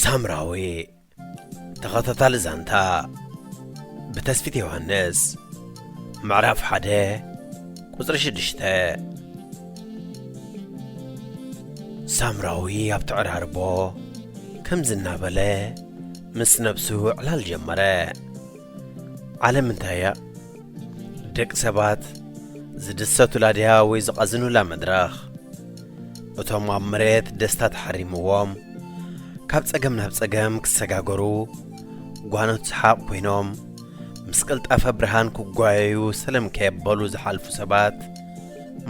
ሳምራዊ ተኸታታሊ ዛንታ ብተስፊት ዮሃንስ ምዕራፍ ሓደ ቁፅሪ ሽዱሽተ ሳምራዊ ኣብ ተዕራርቦ ከምዚ እናበለ ምስ ነብሱ ዕላል ጀመረ ዓለም እንታይ እያ ደቂ ሰባት ዝድሰቱላ ድያ ወይ ዝቐዝኑላ መድረኽ? እቶም ኣብ መሬት ደስታ ተሓሪምዎም ካብ ጸገም ናብ ጸገም ክሰጋገሩ ጓኖት ሰሓቕ ኮይኖም ምስ ቅልጣፈ ብርሃን ክጓየዩ ሰለም ከየበሉ ዝሓልፉ ሰባት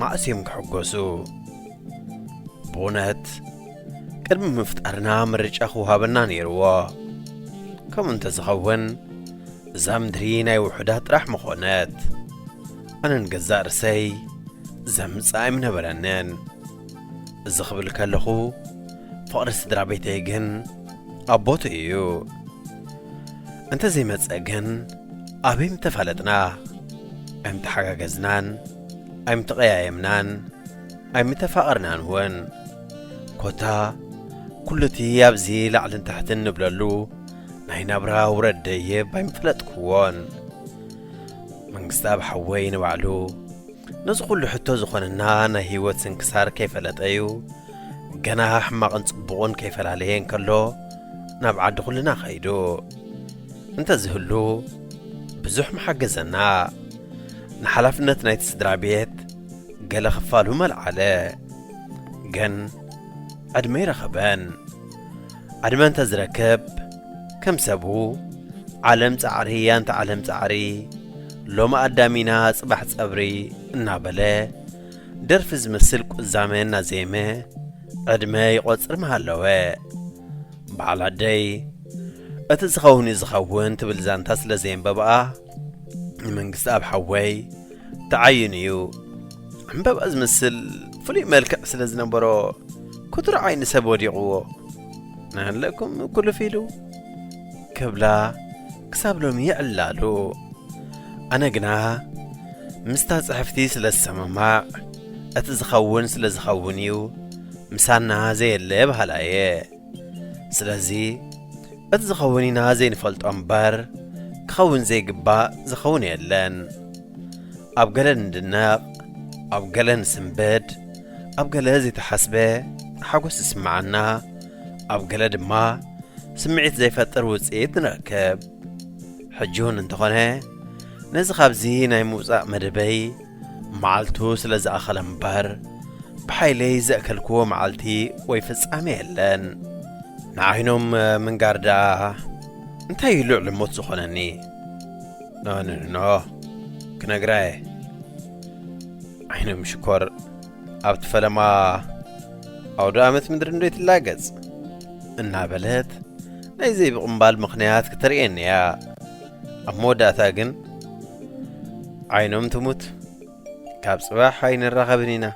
ማእስ እዮም ክሕጎሱ። ብእውነት ቅድሚ ምፍጣርና ምርጫ ክውሃበና ነይርዎ። ከምኡ እንተዝኸውን እዛ ምድሪ ናይ ውሑዳት ጥራሕ ምኾነት። ኣነ ንገዛእ ርእሰይ ዘምጽእ ኣይምነበረንን። እዚ ክብል ከለኹ ፍቕሪ ስድራ ቤተይ ግን ኣብ ቦትኡ እዩ። እንተ ዘይመጸ ግን ኣበይ ምተፋለጥና፣ ኣይምተሓጋገዝናን፣ ኣይምተቐያየምናን፣ ኣይምተፋቐርናን እውን። ኮታ ኩሉ እቲ ኣብዚ ላዕልን ታሕትን ንብለሉ፣ ናይ ናብራ ውረድ ደይብ ኣይምፈለጥክዎን መንግስታኣብ ሓወይ ንባዕሉ ነዚ ኩሉ ሕቶ ዝኾነና ናይ ህይወት ስንክሳር ከይፈለጠ እዩ ገና ሕማቕን ጽቡቕን ከይፈላለየ እንከሎ ናብ ዓዲ ኩልና ከይዱ እንተዝህሉ ብዙሕ ምሓገዘና ንሓላፍነት ናይቲ ስድራ ቤት ገለ ክፋሉ መልዓለ ግን ዕድመ ይረኸበን ዕድመ እንተ ዝረክብ ከም ሰቡ ዓለም ጻዕሪ ኣንታ ዓለም ጻዕሪ ሎሚ ኣዳም ኢና ጽባሕ ጸብሪ እናበለ ደርፊ ዝመስል ቁዛመ እናዘየመ ዕድመ ይቖጽር ምሃለወ። በዓል ኣደይ እቲ ዝኸውን እዩ ዝኸውን ትብል ዛንታ ስለ ዘየንበብኣ መንግስቲ ኣብ ሓወይ ተዓይኑ እዩ ዕምበባ ዝመስል ፍሉይ መልክዕ ስለ ዝነበሮ ኩትሮ ዓይኒ ሰብ ወዲቕዎ ናሃለኩም ኩልፍ ኢሉ ክብላ ክሳብ ሎሚ ይዕላሉ ኣነ ግና ምስታ ጽሕፍቲ ስለ ዝሰማማዕ እቲ ዝኸውን ስለ ዝኸውን እዩ ምሳና ዘየለ በሃላ እየ ስለዚ እቲ ዝኸውን ኢና ዘይንፈልጦ እምበር ክኸውን ዘይግባእ ዝኸውን የለን ኣብ ገለ ንድነቕ ኣብ ገለ ንስንብድ ኣብ ገለ ዘይተሓስበ ሓጐስ ዝስምዓና ኣብ ገለ ድማ ስምዒት ዘይፈጥር ውፅኢት ንረክብ ሕጂ እውን እንተኾነ ነዚ ካብዚ ናይ ምውፃእ መደበይ መዓልቱ ስለ ዝኣኸለ እምበር ብሓይለይ ዘእከልክዎ መዓልቲ ወይ ፍጻሜ የለን። ንዓይኖም ምንጋር ደኣ እንታይ እዩ ልዕሊ ሞት ዝኾነኒ? ኖኖኖ ክነግራ እየ። ዓይኖም ሽኮር ኣብቲ ፈለማ ኣውደ ኣመት ምድሪ እንዶ ትላገጽ እናበለት ናይ ዘይብቕምባል ምኽንያት ክተርእየኒ እያ። ኣብ መወዳእታ ግን ዓይኖም ትሙት ካብ ጽባሕ ኣይንራኸብን ኢና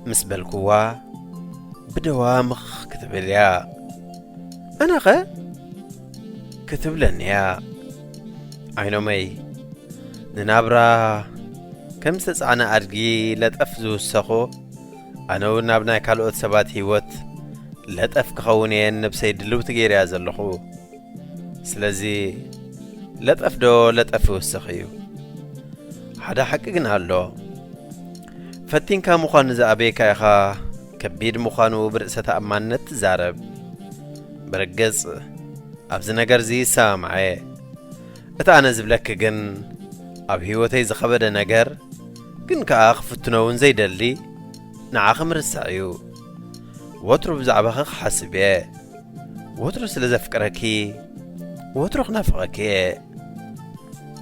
ምስ በልኩዋ ብደዋ ምኽ ክትብል እያ ኣነኸ ክትብለኒ እያ ዓይኖመይ ንናብራ ከም ዝተጻዕነ ኣድጊ ለጠፍ ዝውሰኹ ኣነ እውን ናብ ናይ ካልኦት ሰባት ህይወት ለጠፍ ክኸውን እየን ነብሰይ ድልውቲ ገይርያ ዘለኹ ስለዚ ለጠፍ ዶ ለጠፍ ይውስኽ እዩ። ሓደ ሓቂ ግን ኣሎ፣ ፈቲንካ ምዃን ንዝኣበየካ ኢኻ ከቢድ ምዃኑ ብርእሰ ተኣማንነት ትዛረብ። ብርግጽ ኣብዚ ነገርዚ ይሰማምዐ። እቲ ኣነ ዝብለኪ ግን ኣብ ህይወተይ ዝኸበደ ነገር ግን ከኣ ክፍትኖ እውን ዘይደሊ ንዓኺ ምርሳዕ እዩ። ወትሩ ብዛዕባኺ ክሓስብ እየ። ወትሩ ስለ ዘፍቅረኪ ወትሩ ክናፍቐኪ እየ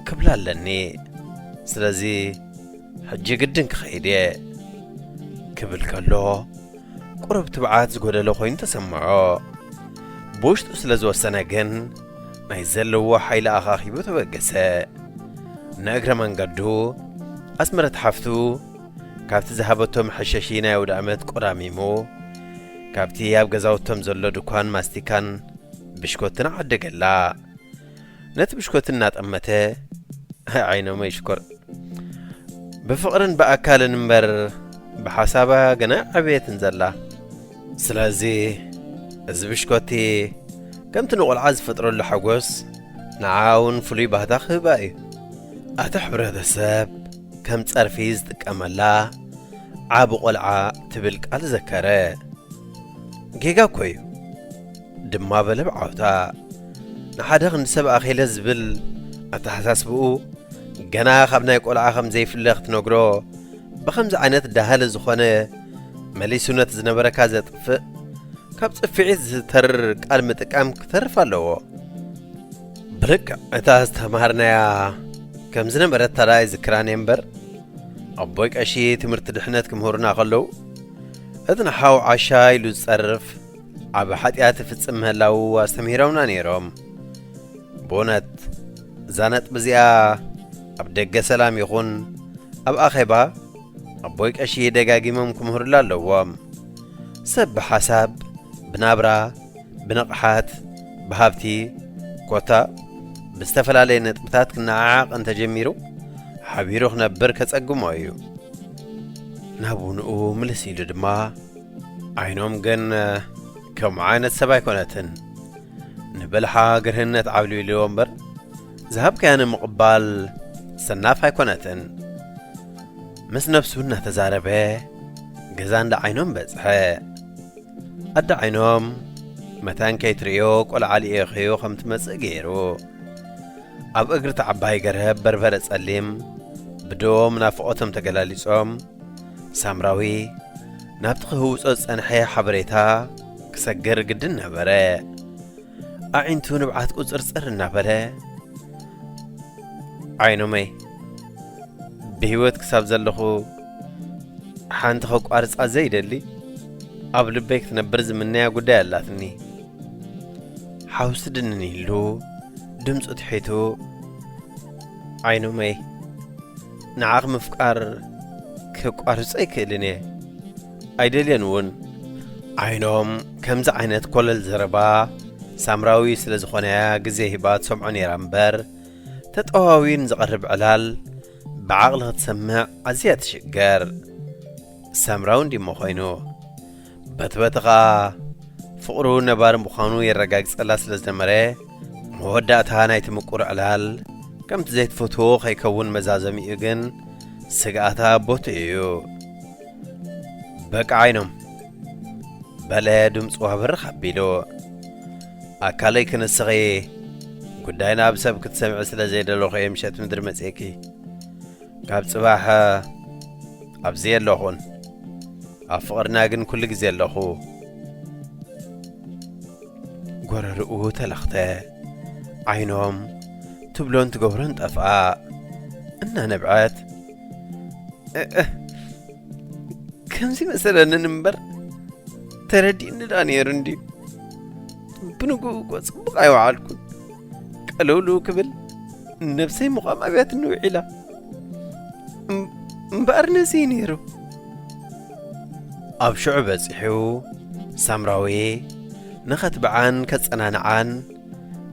ክብላ ኣለኒ ስለዚ ሕጂ ግድን ክኸይድ እየ ክብል ከሎ ቁሩብ ትብዓት ዝጎደሎ ኮይኑ ተሰምዖ ብውሽጡ ስለ ዝወሰነ ግን ናይ ዘለዎ ሓይሊ ኣኻኺቡ ተበገሰ ንእግረ መንገዱ ኣስመረት ሓፍቱ ካብቲ ዝሃበቶ መሐሸሺ ናይ ኣውደኣመት ቆራሚሞ፣ ካብቲ ኣብ ገዛውቶም ዘሎ ድኳን ማስቲካን ብሽኮትን ዓደገላ። ነቲ ብሽኮት እናጠመተ፣ ዓይኖመይ ሽኮር! ብፍቕርን ብኣካልን እምበር ብሓሳባ ገና ኣይዓበየትን ዘላ። ስለዚ እዚ ብሽኮቲ ከምቲ ንቆልዓ ዝፈጥረሉ ሓጎስ ንዓኣ እውን ፍሉይ ባህታ ክህባ እዩ። ኣታ ሕብረተሰብ! ከም ጸርፊ ዝጥቀመላ ዓቢ ቆልዓ ትብል ቃል ዘከረ። ጌጋ እኮ እዩ ድማ በለ ብዓውታ። ንሓደ ክንዲ ሰብ ኣኼለ ዝብል ኣተሓሳስብኡ ገና ካብ ናይ ቆልዓ ከም ዘይፍለ ክትነግሮ ብኸምዚ ዓይነት ዳህሊ ዝኾነ መሊሱ ነቲ ዝነበረካ ዘጥፍእ ካብ ጽፍዒት ዝተርር ቃል ምጥቃም ክተርፍ ኣለዎ። ብልክዕ እታ ዝተምሃርናያ ከም ዝነበረት ታዳ ኣይዝክራን እየ እምበር ኣቦይ ቀሺ ትምህርቲ ድሕነት ክምህሩና ከለዉ እቲ ንሓው ዓሻ ኢሉ ዝጸርፍ ዓብ ሓጢኣት ይፍጽም ምህላዉ ኣስተምሂሮምና ነይሮም። ብእውነት እዛ ነጥቢ እዚኣ ኣብ ደገ ሰላም ይኹን ኣብ ኣኼባ ኣቦይ ቀሺ ደጋጊሞም ክምህሩላ ኣለዎም። ሰብ ብሓሳብ ብናብራ ብንቕሓት፣ ብሃብቲ፣ ኮታ ብዝተፈላለየ ነጥብታት ክነዓዓቕ እንተጀሚሩ ሓቢሩ ክነብር ከጸግሞ እዩ። ናብ ውንኡ ምልስ ኢሉ ድማ ዓይኖም ግን ከምኡ ዓይነት ሰብ ኣይኮነትን ንበልሓ ግርህነት ዓብልቢልዎ እምበር ዝሃብካያ ንምቕባል ሰናፍ ኣይኮነትን ምስ ነብሱ እናተዛረበ ገዛ እንዳ ዓይኖም በጽሐ። ኣደ ዓይኖም መታን ከይትርእዮ ቆልዓ ልኢኸዮ ከም ትመጽእ ገይሩ ኣብ እግሪ እቲ ዓባይ ገረብ በርበረ ጸሊም ብዶም ናፍቖቶም ተገላሊጾም ሳምራዊ ናብቲ ክህውጾ ዝጸንሐ ሓበሬታ ክሰግር ግድን ነበረ። ኣዒንቱ ንብዓት ቁፅርፅር እናበለ ዓይኖመይ ብህይወት ክሳብ ዘለኹ ሓንቲ ከቋርጻ ዘይደሊ ኣብ ልበይ ክትነብር ዝምነያ ጉዳይ ኣላትኒ ሓውሲ ድንን ኢሉ ድምፁ ትሒቱ ዓይኖመይ ንዓኽ ምፍቃር ከቋርጾ ኣይክእልን እየ ኣይደልየን እውን ዓይኖም ከምዚ ዓይነት ኮለል ዘረባ ሳምራዊ ስለ ዝኾነያ ግዜ ሂባ ትሰምዖ ነይራ እምበር ተጠዋዊን ዝቐርብ ዕላል ብዓቕሊ ክትሰምዕ ኣዝያ ትሽገር ሳምራዊ እንዲሞ ኮይኑ በትበቲ ኸኣ ፍቕሩ ነባሪ ምዃኑ የረጋግጸላ ስለ ዝነበረ መወዳእታ ናይቲ ምቁር ዕላል ከምቲ ዘይትፈትዎ ከይከውን መዛዘሚኡ ግን ስግኣታ ቦቲ እዩ በቃ ዓይኖም በለ ድምፁ ኣብርኽ ኣቢሉ ኣካለይ ክንስኺ እየ ጉዳይ ናብ ሰብ ክትሰምዒ ስለ ዘይደለኹ እየ ምሸት ምድሪ መጽኪ ካብ ጽባሕ ኣብዚ የለኹን ኣብ ፍቕርና ግን ኩሉ ግዜ ኣለኹ ጎረርኡ ተለኽተ ዓይኖም ትብሎን ትገብሮን ጠፍኣ እናነብዐት ከምዚ መሰለንን እምበር ተረዲእኒ ዳ ነይሩ እንድዩ ብንግኡ እኮ ጽቡቕ ኣይወዓልኩን ቀለውልው ክብል ነብሰይ ምቛም ኣብያትኒ ውዒላ እምበኣር ነዚ ነይሩ ኣብ ሽዑ በጺሑ ሳምራዊ ንኸትብዓን ከጸናንዓን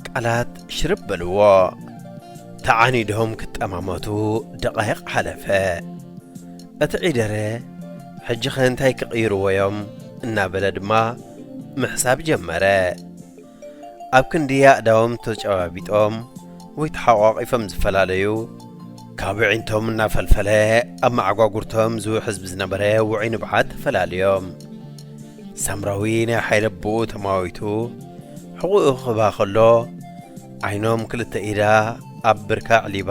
ቃላት ሽርብ በልዎ ተዓኒዶም ክጠማመቱ ደቓይቕ ሓለፈ እቲ ዒደረ፣ ሕጂኸ እንታይ ክቕይርዎ'ዮም? እናበለ ድማ ምሕሳብ ጀመረ። ኣብ ክንዲ ኣእዳዎም ተጨባቢጦም ወይ ተሓቋቒፎም ዝፈላለዩ፣ ካብ ኣዒንቶም እናፈልፈለ ኣብ መዓጓጉርቶም ዝውሕዝ ብዝነበረ ውዑይ ንብዓት ተፈላልዮም። ሳምራዊ ናይ ሓይሊ ኣቦኡ ተማዊቱ ሕቖኡ ክኽባ ከሎ፣ ዓይኖም ክልተ ኢዳ ኣብ ብርካ ኣዕሊባ፣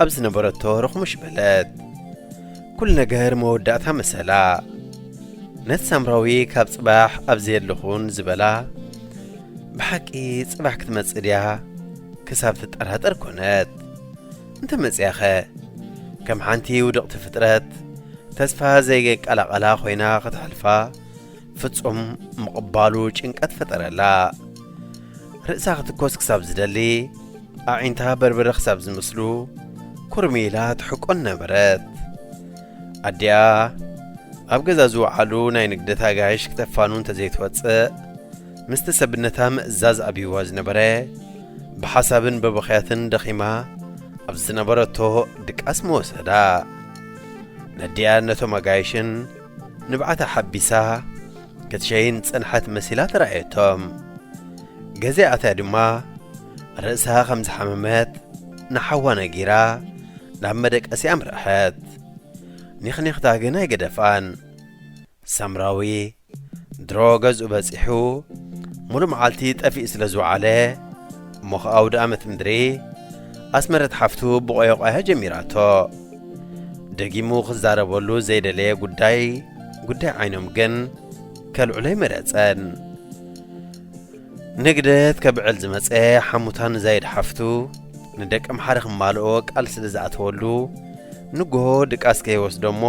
ኣብ ዝነበረቶ ርኽሙሽ በለት ኩሉ ነገር መወዳእታ መሰላ ነቲ ሳምራዊ ካብ ጽባሕ ኣብ ዘየለኹን ዝበላ ብሓቂ ጽባሕ ክትመጽእ ድያ ክሳብ ትጠራጠር ኮነት እንተ መጽያኸ ከም ሓንቲ ውድቕቲ ፍጥረት ተስፋ ዘይገቃላቐላ ኾይና ኽተሕልፋ ፍጹም ምቕባሉ ጭንቀት ፈጠረላ። ርእሳ ክትኮስ ክሳብ ዝደሊ፣ ኣዒንታ በርበረ ክሳብ ዝመስሉ ኩርሚ ኢላ ትሕቆን ነበረት። ኣዲኣ ኣብ ገዛ ዝወዓሉ ናይ ንግደት ኣጋይሽ ክተፋኑ እንተዘይትወጽእ ምስቲ ሰብነታ ምእዛዝ ኣብይዋ ዝነበረ ብሓሳብን በበኽያትን ደኺማ ኣብ ዝነበረቶ ድቃስ መወሰዳ ነዲኣ ነቶም ኣጋይሽን ንብዓታ ሓቢሳ ክትሸይን ዝጸንሐት መሲላ ተራእየቶም። ገዜ ኣትያ ድማ ርእሳ ከም ዝሓመመት ንሓዋ ነጊራ ናብ መደቀሲ ኣምርሐት። ኒኽኒኽታ ግን ኣይገደፋን። ሳምራዊ ድሮ ገዝኡ በጺሑ ሙሉእ መዓልቲ ጠፊኡ ስለ ዝወዓለ እሞ ኸኣ ኣውደኣመት ምድሪ ኣስመረት ሓፍቱ ብቖየቋያ ጀሚራቶ። ደጊሙ ክዛረበሉ ዘይደለየ ጉዳይ ጉዳይ ዓይኖም ግን ከልዕሎይ መረጸን ንግደት ከብዕል ዝመጸ ሓሙታ ንዛይድ ሓፍቱ ንደቂ ኣምሓረ ክማልኦ ቃል ስለ ዝኣተወሉ ንግሆ ድቃስ ከይወስዶ እሞ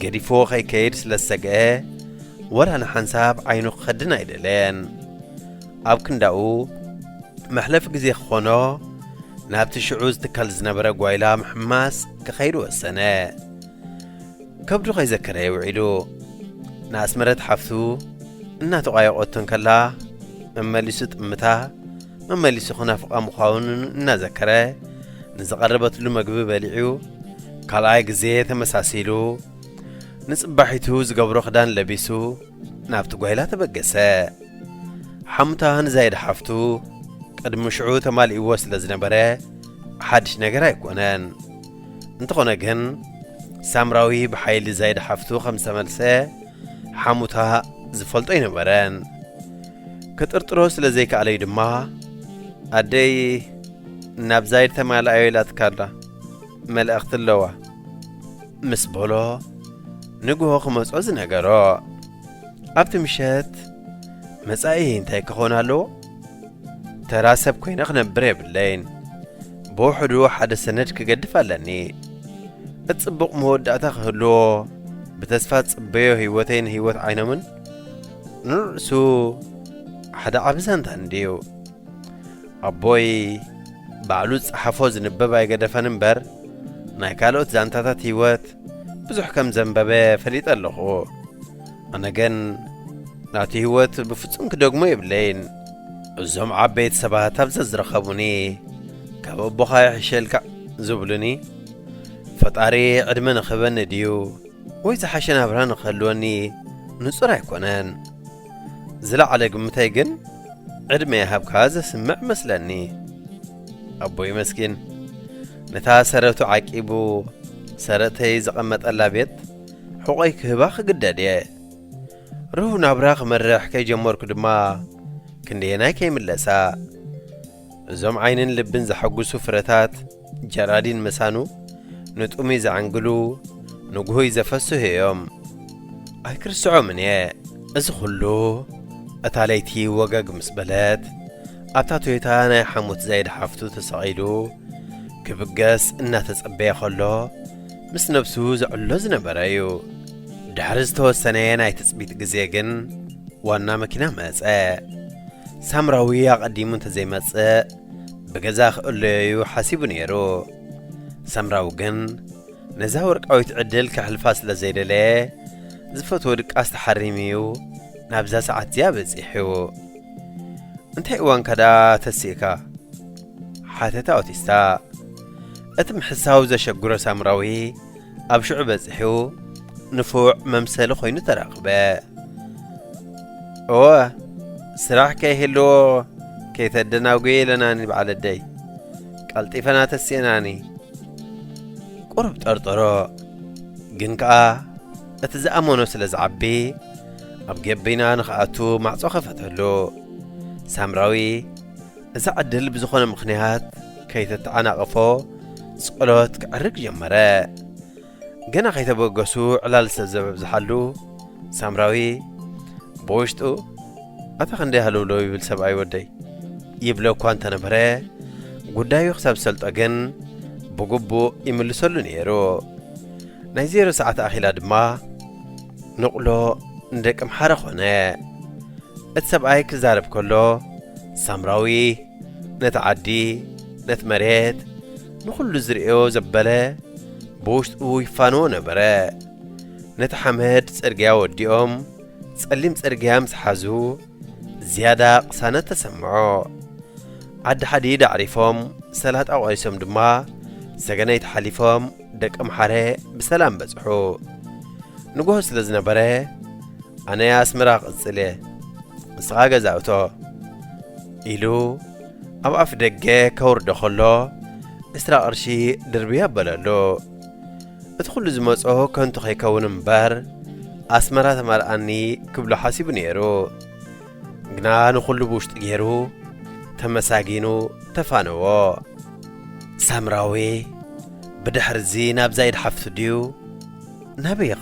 ገዲፎ ከይከይድ ስለ ዝሰግአ ወላ ንሓንሳብ ዓይኑ ክኸድን ኣይደለየን ኣብ ክንዳኡ፣ መሕለፊ ግዜ ክዀኖ፣ ናብቲ ሽዑ ዝትከል ዝነበረ ጓይላ ምሕማስ ክኸይድ ወሰነ። ከብዱ ከይዘከረ'የ ውዒሉ። ንኣስመረት ሓፍቱ እናተቋየቖቶ እንከላ፣ መመሊሱ ጥምታ፣ መመሊሱ ክናፍቓ ምዃኑ እናዘከረ፣ ንዝቐረበትሉ መግቢ በሊዑ፣ ካልኣይ ግዜ ተመሳሲሉ፣ ንጽባሒቱ ዝገብሮ ክዳን ለቢሱ፣ ናብቲ ጓይላ ተበገሰ። ሓሙታ ንዛይድ ሓፍቱ ቅድሚ ሽዑ ተማሊእዎ ስለ ዝነበረ ሓድሽ ነገር ኣይኮነን። እንተኾነ ግን ሳምራዊ ብሓይሊ ዛይድ ሓፍቱ ከም ዝተመልሰ ሓሙታ ዝፈልጦ ኣይነበረን። ክጥርጥሮ ስለ ዘይከኣለዩ ድማ ኣደይ ናብ ዛይድ ተማልኣዮ ኢላትካ ኣላ መልእኽቲ ኣለዋ ምስ በሎ ንግሆ ክመጾ ዝነገሮ ኣብቲ ምሸት መጻኢ እንታይ ክኾን ኣለዎ? ተራ ሰብ ኮይነ ክነብር የብለይን። ብውሕዱ ሓደ ሰነድ ክገድፍ ኣለኒ። እቲ ጽቡቕ መወዳእታ ክህልዎ ብተስፋ ጽበዮ ህይወተይን ህይወት ዓይኖምን ንርእሱ ሓደ ዓቢ ዛንታ እንድዩ። ኣቦይ ባዕሉ ዝጸሓፎ ዝንበብ ኣይገደፈን እምበር ናይ ካልኦት ዛንታታት ህይወት ብዙሕ ከም ዘንበበ ፈሊጠ ኣለኹ። ኣነ ግን ናቱ ህይወት ብፍጹም ክደግሞ የብለይን። እዞም ዓበይቲ ሰባት ኣብ ዘዝረኸቡኒ ካብ ኣቦኻ ይሕሸልካ ዝብሉኒ ፈጣሪ ዕድመ ንኽህበኒ ድዩ ወይ ዝሓሸ ናብራ ንኽህልወኒ ንጹር ኣይኮነን። ዝለዓለ ግምተይ ግን ዕድመ ይሃብካ ዘስምዕ መስለኒ ኣቦይ መስኪን ነታ ሰረቱ ዓቂቡ ሰረተይ ዘቐመጠላ ቤት ሕቖይ ክህባ ክግደድ እየ ርሁው ናብራ ክመርሕ ከይጀመርኩ ድማ ክንደየናይ ከይምለሳ እዞም ዓይንን ልብን ዘሐጕሱ ፍረታት ጀራዲን ምሳኑ፣ ንጥሙይ ዘዕንግሉ፣ ንጕሁይ ዘፈስሑ እዮም። ኣይክርስዖምን እየ እዚ ዅሉ። እታ ለይቲ ወገግ ምስ በለት፣ ኣብታ ቶዮታ ናይ ሓሙት ዛይድ ሓፍቱ ተሰቒሉ ክብገስ እናተጸበየ ኸሎ ምስ ነብሱ ዘዕሎ ዝነበረ እዩ። ድሕሪ ዝተወሰነየ ናይ ትጽቢት ግዜ ግን ዋና መኪና መጸ። ሳምራዊ ኣቐዲሙ እንተዘይመጽእ ብገዛ ክእለዮዩ ሓሲቡ ነይሩ። ሳምራዊ ግን ነዛ ወርቃዊት ዕድል ከሕልፋ ስለ ዘይደለየ ዝፈትዎ ድቃስ ተሓሪሙዩ ናብዛ ሰዓት እዚኣ በጺሑ። እንታይ እዋንካ ደኣ ተሲእካ? ሓተታ ኦቲስታ። እቲ ምሕሳው ዘሸግሮ ሳምራዊ ኣብ ሽዑ በጺሑ ንፉዕ መምሰሊ ኮይኑ ተረኽበ። እወ ስራሕ ከይህልዎ ከይተደናጉየ ኢለናኒ በዓል ኣደይ ቀልጢፈና ተሲእናኒ። ቁሩብ ጠርጠሮ ግን ከኣ እቲ ዝኣመኖ ስለ ዝዓቢ ኣብ ገበይና ንኽኣቱ ማዕጾ ከፈተሉ ሳምራዊ እዛ ዕድል ብዝኾነ ምኽንያት ከይተተዓናቐፎ ጸሎት ክዕርግ ጀመረ። ገና ከይተበገሱ ዕላል ሰብ ዘበብዝሓሉ ሳምራዊ ብውሽጡ ኣታ ክንደይ ሃለውለው ይብል ሰብኣይ ወደይ ይብሎ እኳ እንተነበረ ጉዳዩ ክሳብ ዝሰልጦ ግን ብግቡእ ይምልሰሉ ነይሩ። ናይ ዜሮ ሰዓት ኣኺላ ድማ ንቕሎ ንደቀምሓረ ዀነ። እቲ ሰብኣይ ኪዛረብ ከሎ፣ ሳምራዊ ነቲ ዓዲ፣ ነቲ መሬት፣ ንዅሉ ዚርእዮ ዘበለ ብውሽጡ ይፋነዎ ነበረ። ነቲ ሓመድ ጽርግያ ወዲኦም ጸሊም ጽርግያ ምስ ሓዙ፣ ዝያዳ ቕሳነት ተሰምዖ። ዓዲ ሓዲድ ኣዕሪፎም፣ ሰላጣ ቖሪሶም ድማ ሰገነይቲ ሓሊፎም፣ ደቂ ኣምሓረ ብሰላም በጽሑ። ንጎሆ ስለ ዝነበረ ኣነ ኣስመራ ክቕጽል እየ፣ ንስኻ ገዛ እቶ ኢሉ ኣብ ኣፍ ደገ ከውርዶ ከሎ ዕስራ ቅርሺ ድርቢ ኣበለሉ። እቲ ኩሉ ዝመጾ ከንቱ ከይከውን እምበር ኣስመራ ተማልኣኒ ክብሎ ሓሲቡ ነይሩ። ግና ንዅሉ ብውሽጢ ገይሩ ተመሳጊኑ ተፋነዎ። ሳምራዊ ብድሕርዚ ናብዛ ኢድ ሓፍቱ ድዩ ናበይ ይኸ።